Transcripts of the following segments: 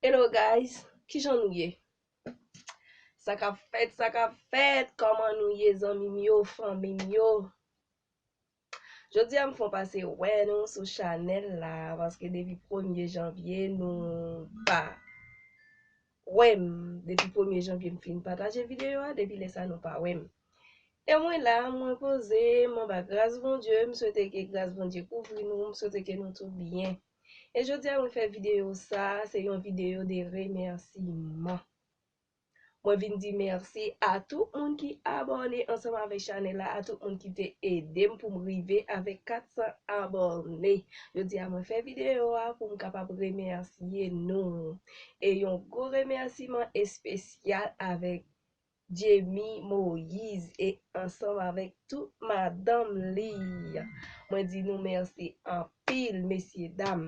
Hello guys, kijan nou ye? Sa kap fèt, sa kap fèt, kòman nou ye zanmim yo, fanmim yo? Jodi a m fon pase wè nou sou chanèl la, paske depi premye janvye nou pa. wèm depi premye janvye m fin pataje videyo a depi lè sa nou pa wèm e mwen la mwen poze m anba gras Bondye m swete ke gras Bondye kouvri nou m swete ke nou tout byen e jodia mwen fè videyo sa se yon videyo de remèsiman mwen vin di mèsi a tout moun ki abòne ansanm avèk chanèl la a tout moun ki te edem pou m rive avèk 400 abòne jodia mwen fè videyo a pou m kapab remèsiye nou. E yon gwo remèsiman espesyal avèk Djemy Moïse e ansanm avèk tout madanm li. Mwen di nou mèsi anpil mesyedam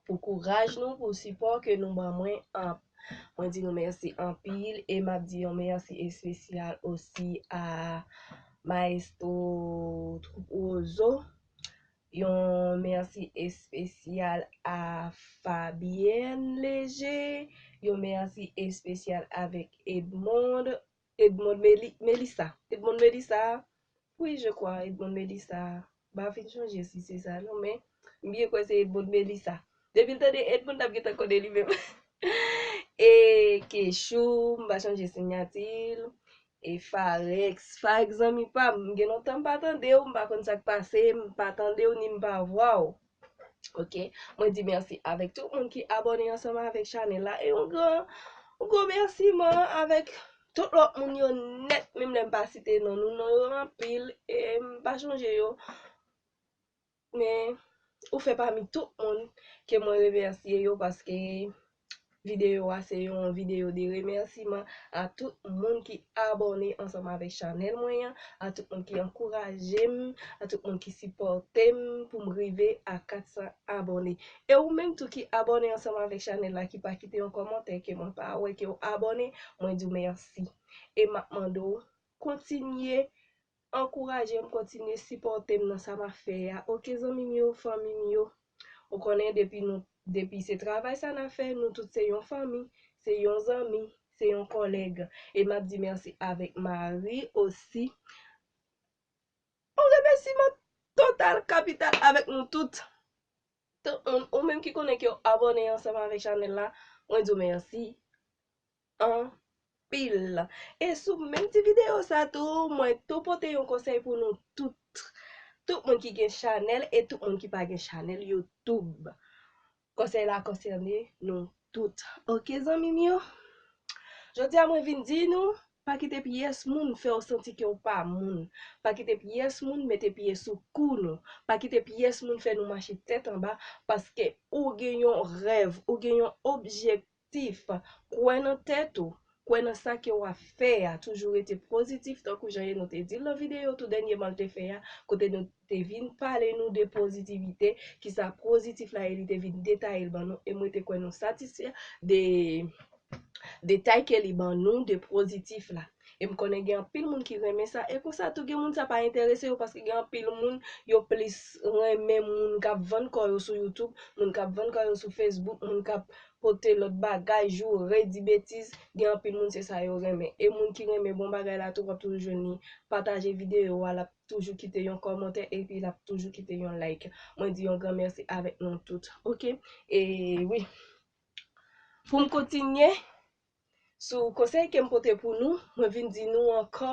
pou kouraj nou, pou sipò ke nou ban mwen an. Mwen di nou mèsi anpil e map di yon mèsi espesyal osi a Maestro Troupe Roseau Yon mèsi espesyal a Fabienne Léger, yon mèsi espesyal avèk Edmond, Edmond Meli, Melissa, Edmond Melissa, wi je kwa Edmond Melissa, m pa fin chonje si se sa non men m byen kwè se Edmond Melissa. Depil tande Ed moun tap gentan konnen li menm e kechou m pa chanje signatil e farex farex zanmi pam m gen lontan m pa tandew m pa konn sak pase m pa tandew ni m pa vwaw ok mwen di merci avek tout moun ki abone ansanm avek chanel la e yon gran yon gwo merci man avek tout lot moun yo net menm lem pa site non nou non yo anpil em pa chanje yo. Men, ou fè pami tout moun ke mwen remèsye yo paske videyo a se yon videyo de remèsiman a tout moun ki abòne ansanm avèk chanèl mwen an, a tout moun ki ankouraje m, a tout moun ki sipòte m pou m rive a 400 abòne. E ou menm tou ki abòne ansanm avèk chanèl la ki pa kite yon kòmantè ke mwen pa wè ke w abòne, mwen di w mèsi. E m ap mande w kontinye Ankourajem kontinye sipòtem nan sa map fè a ok zanmim yo fanmim yo ou konnen depi nou depi se travay sa nap fè nou tout se yon fanmi se yon zanmi se yon kòlèg e map di mèsi avèk mari osi yon remèsiman total kapital avèk nou tout tout moun ou menm ki konnen kew abòne ansanm avèk chanèl la mwen diw mèsi. anpil e sou menm ti video sa tou mwen tou pote yon konsèy pou nou tout tout moun ki gen chanèl e tout moun ki pa gen chanèl youtoub konsèy la konsène nou tout ok zanmi m yo jodi a mwen vin di nou pa kite pyès moun fèw santi ke w pa moun pa kite pyès moun mete pye sou kou nou pa kite pyès moun fè nou mache tèt anba paske ou gen yon rèv ou gen yon objektif. Tif, Kwè nan tèt ou, kwè nan sa ke wap fè a, toujou rete pozitif tankou jan Yeno te dil nan videyo tou dènyeman l te fè a kote nou te vin pale nou de pozitivite, kisa pozitif la ye li te vin detaye l ban nou e mwen te kwè nou satisfè de detay ke li ban nou de pozitif la. E m konnen gen anpil moun ki renmen sa, e konsa tou gen moun sa pa enterese yo paske gen anpil moun yo plis renmen moun k ap vann kò yo sou youtube, moun k ap vann kò yo sou facebook, moun k ap pote lòt bagay, joure, di betiz, gen anpil moun se sa yo renmen. E moun ki renmen bon bagay la tou w ap toujou jwenn li pataje videyo a, l ap toujou kite yon kòmantè epi l ap toujou kite yon like. Mwen di yon gran mèsi avèk nou tout ok. E wi pou m kontinye Sou konsèy kem pote pou nou, mwen vin di nou ankò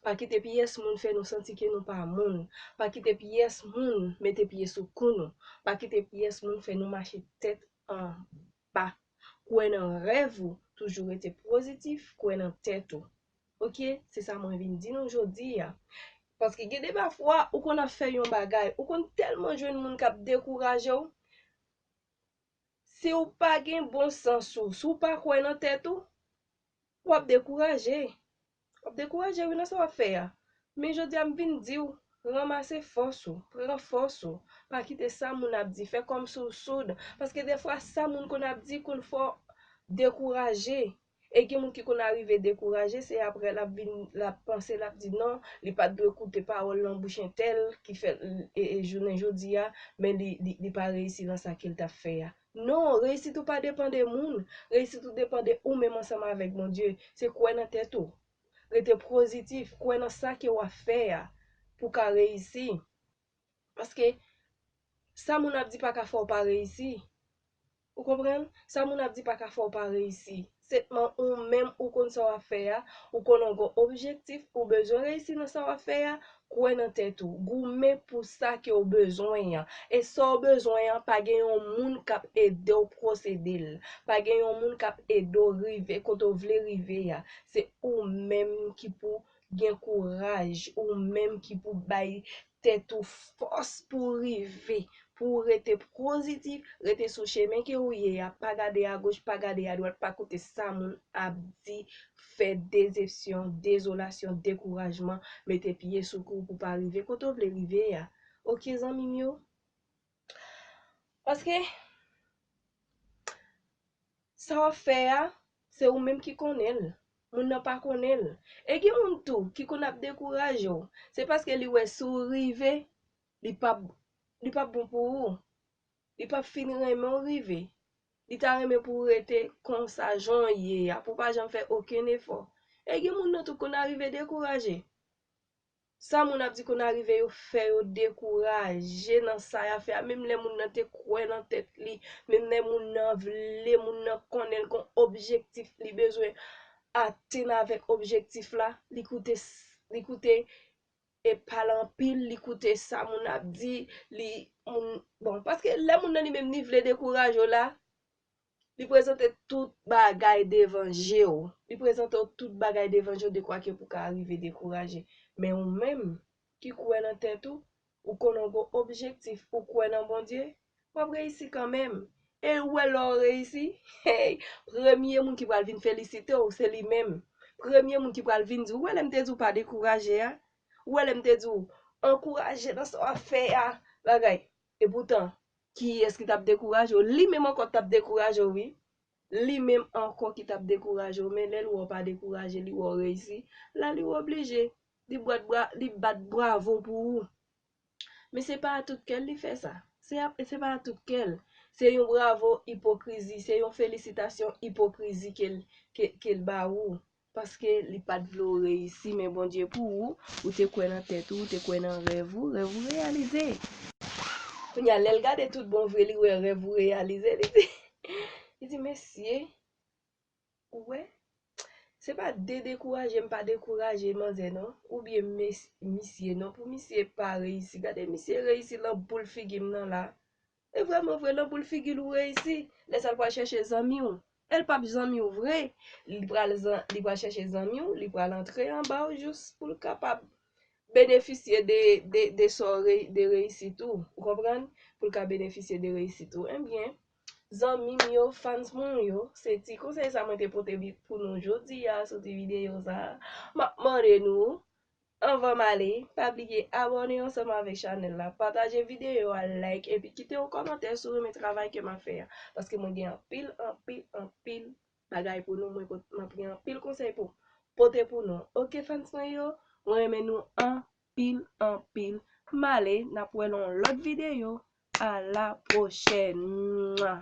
pa kite pyès moun fè nou santi ke nou pa moun, pa kite pyès moun mete pye sou kou nou, pa kite pyès moun fè nou mache tèt anba. Kwè nan rèv ou, toujou rete pozitif, kwè nan tèt ou. Ok, se sa mwen vin di nou jodi a. Paske gen de pa fwa ou konn ap fè yon bagay, ou konn tèlman jwenn moun kap dekourajew, Si w pa gen bon sans ou, si w pa kwè nan tèt ou, w ap dekouraje. W ap dekouraje wi nan sa w ap fè a. Men jodi a m vin di w, ranmase fòs ou, pran fòs ou, pa kite sa moun ap di fè kòmsi w soud. Paske defwa sa moun konn ap di konn fè w dekouraje. E gen moun ki konn arive dekouraje, se aprè lap vin lap panse lap di non, li pat dwe koute pawòl nan bouch entèl ki fè l jounen jodi a, men li pa reyisi nan sa kel tap fè a. Non, reyisit ou pa depan de moun, reyisit ou depan de ou menm ansanm avèk Bondye, se kwè nan tèt ou, rete prozitif, kwè nan sa ke wap fè a pou ka reyisi. Paske, sa moun ap di pa ka fè w pa reyisi. Ou konprann? Sa moun ap di pa ka fè w pa reyisi. Setman ou menm ou konn sa w ap fè a, ou konnen w gen yon objektif, ou bezwen reyisi nan sa w ap fè a, kwè nan tèt ou. Goumen pou sa ke w bezwen an. E sa w bezwen an, pa gen yon moun k ap ede w pwosede l. Pa gen yon moun k ap ede w rive kote w vle rive a. Se ou menm ki pou Gen kouraj ou menm ki pou bay tèt ou fòs pou w rive, pou w rete pozitif, rete sou chemen ke ou ye a, pa gade agoch, pa gade adwat, pa koute sa moun ap di, fè dezepsyon, dezolasyon, dekourajman mete pye sou kou w pou w pa rive kote w vle rive a. Ok zanmi m yo? Paske, sa wap fè a, se ou menm ki konnen l, moun nan pa konnen l. E gen moun tou ki konn ap dekouraje w, se paske li wè si w rive, li pap li pap bon pou ou, li pap fin renmen w rive, li ta renmen pou w rete konsa jan w ye a, pou w pa janm fè okenn efò. E gen moun nan tou k konn arive dekouraje. Sa moun ap di konn arive yo fè yo dekouraje nan sa yap fè a menm lè moun nan te kwè nan tèt li, menm lè moun nan vle, moun nan konnen l gon objektif li bezwen atenn avèk objektif la, li koute li koute e pale anpil, li koute sa moun nan ap di, li moun bon paske lè moun nan li menm li vle dekouraje w la, Li prezante tout bagay devan je w. Li prezante w tout bagay devan je w dekwa ke pou ka arive dekouraje. Men ou menm, ki kwè nan tèt ou, ou konnen w gen objektif, ou kwè nan Bondye, w ap reyisi kanmenm. E ou wè lè w reyisi, hey! Premye moun ki pral vin felisite w, se li menm. Premye moun ki pral vin di w, ou wè lè m te di w pa dekouraje a? Ou wè lè m te di w, ankouraje nan sa w ap fè a? Bagay, Epoutan, kiyès ki t ap dekouraje w? Li menm ankò t ap dekouraje w wi. Li menm ankò ki t ap dekouraje w, men lè l wè w pa dekouraje, li wè w reyisi, la li oblije, li bwat bra, li bat bwavo pou ou. Men se pa a tout kè l li fè sa. Se a, se pa a tout kè l. Se yon bwavo ipokrizi, se yon felisitasyon ipokrizi ke l, ke, ke l ba ou. Paske li pat vle w reyisi men Bondye pou ou, ou te kwè nan tèt ou, ou te kwè nan rèv ou, rèv ou reyalize. Kounye a lè l gade tout bon vre li wè rèv ou reyalize li di li di mesye ou wè se pa de dekouraje m pa dekouraje manzè non oubyen mes misye non pou misye pa reyisi gade misye reyisi lan boul figi m nan la. E vreman vre nan boul figil ou reyisi lè sa l pral chèche zanmi w el pap zanmi w vre li pral li pral chèche zanmi w li pral antre anba w jous pou l kapab benefisye de de de sa w reyisi de reyisit ou ou konprann pou l ka benefisye de reyisit ou ebyen zanmi m yo fans mwen yo se ti konsèy sa mwen te pote pou nou jodi a sou ti videyo sa map mande nou Anvan m ale, pa bliye abòne ansanm avèk chanèl la, pataje videyo a, like epi kite yon kòmantè si w renmen travay ke m ap fè a, paske mwen gen anpil, anpil, anpil bagay pou nou, mwen pot, m ap gen anpil konsèy pou pote pou nou. Ok fans mwen yo, mwen renmen nou anpil, anpil, m ale, n ap wè nan yon lòt videyo, a la pwochèn! Mwah!